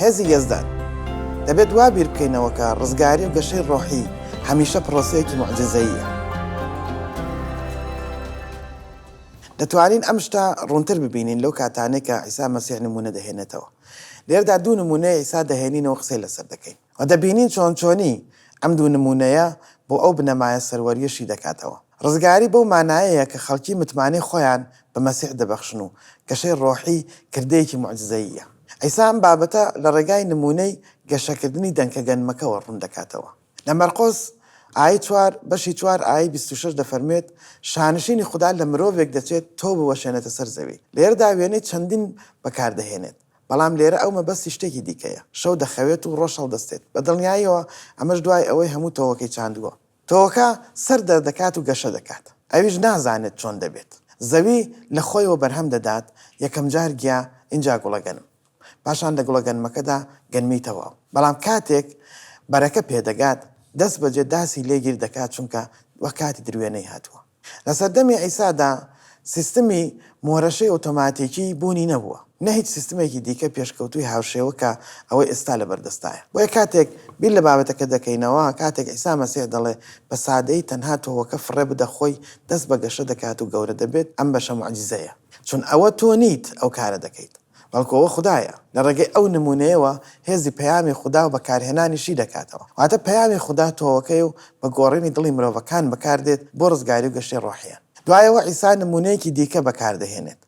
هێزی یەزدان. دەبێت وا بیر بکەینەوە کە ڕزگاری و گەشەی ڕۆحی هەمیشە پڕۆسەیەکی موعجیزەییە. دەتوانین ئەم شتە ڕوونتر ببینین لەو کاتانەی کە عیسا مەسیح نموونە دەهێنێتەوە. لێرەدا دوو نموونەی عیسا دەهێنینەوە قسەی لەسەر دەکەین. و دەبینین چۆن چۆنی ئەم دوو نموونەیە بۆ ئەو بنەمایە سەروەرییە شی دەکاتەوە. ڕزگاری بەو مانایەیە کە خەڵکی متمانەی خۆیان بە مەسیح دەبەخشن و گەشەی ڕۆحی کردەیەکی موعجزەییە. عیسا ئەم بابەتە لە ڕێگای نموونەی گەشەکردنی دەنکە گەنمەکەوە ڕوون دەکاتەوە. لە مەرقۆس، ئایەی چوار، بەشی چوار ئایەی بیست و شەش دەفەرموێت، شانشینی خودا لە مرۆڤێک دەچێت تۆو بوەشێنێتە سەر زەوی. لێرەدا وێنەی چەندین بەکاردەهێنێت. بەڵام لێرە ئەو مەبەستی شتێکی دیکەیە، شەو دەخەوێت و ڕۆژ هەڵدەستێت، بە دڵنیاییەوە ئەمەش دوای ئەوەی هەموو تۆوەکەی چاندووە. تۆوەکە سەر دەردەکات و گەشە دەکات، ئەویش نازانێت چۆن دەبێت. زەوی لە خۆیەوە بەرهەم دەدات، یەکەمجار گیا، ئینجا گوڵەگەنم. پاشان لە گوڵەگەنمەکەدا گەنمی تەواو. بەڵام کاتێک بەرەکە پێدەگات، دەستبەجێ داسی لێ گیر دەکات، چونکە وەک کاتی دروێنەی هاتووە. لە سەردەمی عیسادا سیستمی مۆرەشەی ئۆتۆماتیکی بوونی نەبووە، نە هیچ سیستمێکی دیکە پێشکەوتووی هاوشێوە کە ئەوەی ئێستا لەبەردەستایە. بۆیە کاتێک بیر لە بابەتەکە دەکەینەوە، کاتێک عیسا مەسیح دەڵێ، بە سادەیی تەنها تۆوەکە فڕێ بدە خۆی دەست بە گەشە دەکات و گەورە دەبێت، ئەم بەشە موعجیزەیە. چون ئەوە تۆ نیت ئەو کارە دەکەیت. بەڵکو ئەوە خودایە، لە ڕێگەی ئەو نموونەیەوە هێزی پەیامی خودا و بەکارهێنانی شی دەکاتەوە. واتە پەیامی خودا تۆوەکەیە و بە گۆڕینی دڵی مرۆڤەکان بەکاردێت بۆ ڕزگاری و گەشەی ڕۆحییان. دوایەوە عیسا نموونەیەکی دیکە بەکاردەهێنێت،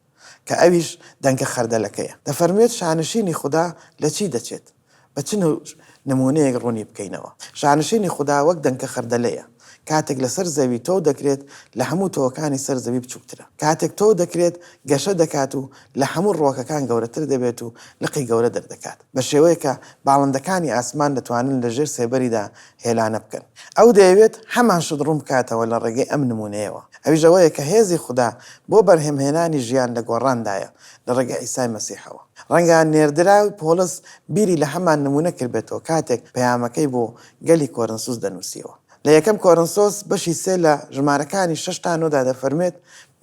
کە ئەویش دەنکە خەردەلەکەیە. دەفەرموێت، شانشینی خودا لە چی دەچێت؟ بە چ نەوج نموونەیەک ڕوونی بکەینەوە؟ شانشینی خودا وەک دەنکە خەردەلەیە، کاتێک لەسەر زەوی تۆو دەکرێت لە هەموو تۆوەکانی سەر زەوی بچووکترە. کاتێک تۆو دەکرێت گەشە دەکات و لە هەموو ڕووەکەکان گەورەتر دەبێت و لقی گەورە دەردەکات، بە شێوەیەک کە باڵندەکانی ئاسمان دەتوانن لە ژێر سێبەریدا هێلانە بکەن. ئەو دەیەوێت هەمان شت ڕوون بکاتەوە لە ڕێگەی ئەم نموونەیەوە، ئەویش ئەوەیە کە هێزی خودا بۆ بەرهەمهێنانی ژیان لە گۆڕاندایە، لە ڕێگەی عیسای مەسیحەوە. ڕەنگە نێردراوی پۆڵس بیری لە هەمان نموونە کردبێتەوە کاتێک پەیامەکەی بۆ گەلی کۆرنسوس دەنووسیەوە. لە یەکەم کۆرنسۆس بەشی سێ لە ژمارەکانی شەش تا نۆ دا دەفەرموێت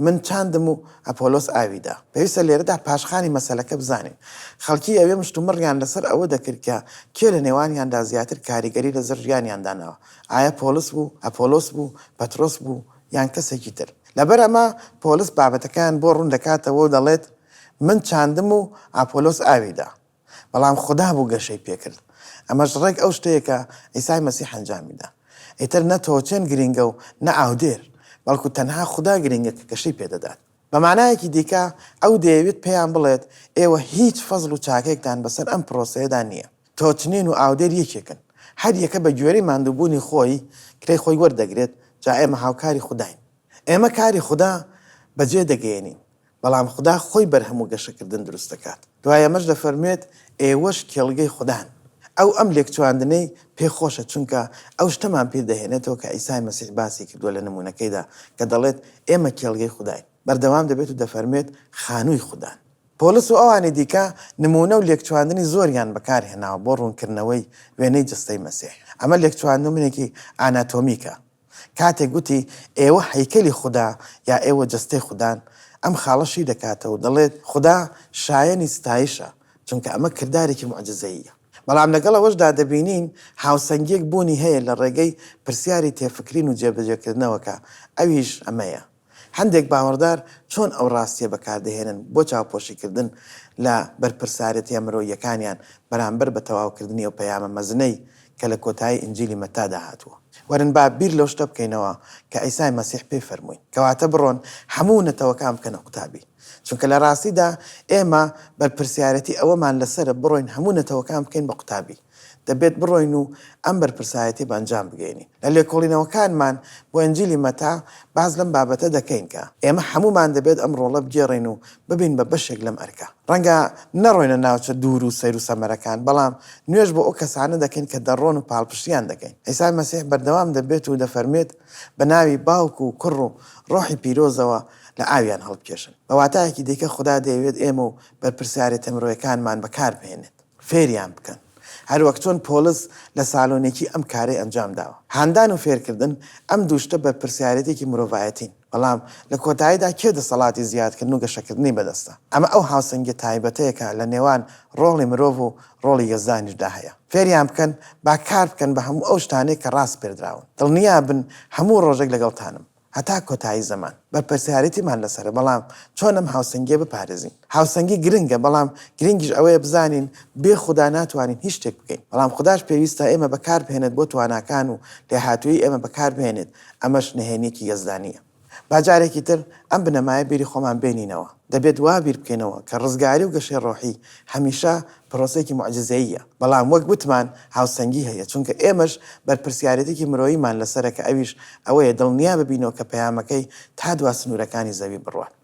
من چاندم و ئەپۆلۆس ئاوی دا. پێویستە لێرەدا پاشخانی مەسەلەکە بزانین. خەڵکی ئەوێ مشتومڕیان لەسەر ئەوە دەکرد کە کێ لە نێوانیاندا زیاتر کاریگەری لەسەر ژیانیان داناوە، ئایە پۆڵس بوو، ئەپۆلۆس بوو، پەترۆس بوو یان کەسێکی تر. لەبەر ئەمە پۆلس بابەتەکەیان بۆ ڕوون دەکاتەوە و دەڵێت، من چاندم و ئاپۆلۆس ئاوی دا، بەڵام خودا بوو گەشەی پێ کرد. ئەمەش ڕێک ئەو شتەیە کە عیسای مەسیح ئەنجامی دا. ئیتر نە تۆچێن گرینگە و نە ئاودێر، بەڵکو تەنها خودا گرینگە کە گەشەی پێ دەدات. بە مانایەکی دیکە ئەو دەیەوێت پێیان بڵێت ئێوە هیچ فەزڵ و چاکەیەکتان بەسەر ئەم پرۆسەیەدا نییە. تۆچنین و ئاودێر یەکێکن. هەر یەکە بە گوێرەی ماندووبوونی خۆی کرێی خۆی وەردەگرێت، جا ئێمە هاوکاری خوداین. ئێمە کاری خودا بەجێ دەگەیەنین، بەڵام خودا خۆی بەرهەم و گەشەکردن دروست دەکات. دوای ئەمەش دەفەرموێت ئێوەش کێڵگەی خودان. ئەو ئەم لێکچواندنەی پێ خۆشە چونکە ئەو شتەمان پیر دەهێنێتەوە کە عیسای مەسیح باسی کردووە لە نموونەکەیدا کە دەڵێت ئێمە کێڵگەی خوداین. بەردەوام دەبێت و دەفەرموێت خانووی خودان. پۆڵس و ئەوانی دیکە نموونە و لێکچواندنی زۆریان بەکار هێناوە بۆ ڕوونکردنەوەی وێنەی جەستەی مەسیح. ئەمە لێکچواندومنێکی ئاناتۆمیکە کاتێک گوتی، ئێوە هەیکەلی خودا، یا ئێوە جەستەی خودان، ئەم خاڵە شی دەکاتەوە و دەڵێت، خودا شایەنی ستایشە، چونکە ئەمە کردارێکی موعجیزەییە. بەڵام لەگەڵ ئەوەشدا دەبینین هاوسەنگییەک بوونی هەیە لە ڕێگەی پرسیاری تێفکرین و جێبەجێکردنەوە کە ئەویش ئەمەیە، هەندێک باوەڕدار چۆن ئەو ڕاستییە بەکاردەهێنن بۆ چاوپۆشیکردن لە بەرپرسارێتییە مرۆییەکانیان بەرامبەر بە تەواوکردنی ئەو پەیامە مەزنەی کە لە کۆتایی ئینجیلی مەتتادا هاتووە. وەرن با بیر لەو شتە بکەینەوە کە عیسای مەسیح پێی فەرمووین، کەواتە بڕۆن هەموو نەتەوەکان بکەنە قوتابی. چونکە لە ڕاستیدا ئێمە بەرپرسیارێتی ئەوەمان لەسەرە بڕۆین هەموو نەتەوەکان بکەین بە قوتابی. دەبێت بڕۆین و ئەم بەرپرسایەتیە بەئەنجام بگەینی. لە لێکۆڵینەوەکانمان بۆ ئنجیلی مەتا باس لەم بابەتە دەکەین کە ئێمە هەموومان دەبێت ئەم ڕۆڵە بگێڕین و ببین بە بەشێک لەم ئەرکە. ڕەنگە نەڕۆینە ناوچە دوور و سەیر و سەمەرەکان، بەڵام نوێژ بۆ ئەو کەسانە دەکەین کە دەڕۆن و پاڵپشتیان دەکەین. عیسای مەسیح بەردەوام دەبێت و دەفەرموێت، بە ناوی باوک و کوڕ و ڕۆحی پیرۆزەوە لە ئاویان هەڵبکێشن. بە واتایەکی دیکە خودا دەیەوێت ئێمە و بەرپرسیارێتە مرۆیەکانمان بەکاربهێنێت. فێریان بکەن هەروەک چۆن پۆڵس لە سالۆنیکی ئەم کارەی ئەنجام داوە. هاندان و فێرکردن ئەم دوو شتە بەرپرسیارێتیەکی مرۆڤایەتین، بەڵام لە کۆتاییدا کێ دەسەڵاتی زیادکردن و گەشەکردنی بەدەستە؟ ئەمە ئەو هاوسەنگیە تایبەتەیە کە لە نێوان ڕۆڵی مرۆڤ و ڕۆڵی یەزدانیشدا هەیە. فێریان بکەن با کار بکەن بە هەموو ئەو شتانەی کە ڕاسپێردراون. دڵنیابن هەموو ڕۆژێک لەگەڵتانم. هەتا کۆتایی زەمان بەرپرسیارێتیمان لەسەرە، بەڵام چۆن ئەم هاوسەنگییە بپارێزین؟ هاوسەنگی گرنگە، بەڵام گرنگیش ئەوەیە بزانین بێ خودا ناتوانین هیچ شتێک بکەین، بەڵام خوداش پێویستە ئێمە بەکاربهێنێت بۆ تواناکان و لێهاتوویی ئێمە بەکاربهێنێت، ئەمەش نهێنییەکی یەزدانییە. با جارێکی تر ئەم بنەمایە بیری خۆمان بێنینەوە، دەبێت وا بیر بکەینەوە کە ڕزگاری و گەشەی ڕۆحی هەمیشە پرۆسەیەکی موعجیزەییە، بەڵام وەک وتمان هاوسەنگی هەیە، چونکە ئێمەش بەرپرسیارێتیکی مرۆییمان لەسەرە کە ئەویش ئەوەیە دڵنیا ببینەوە کە پەیامەکەی تا دوا سنوورەکانی زەوی بڕوات.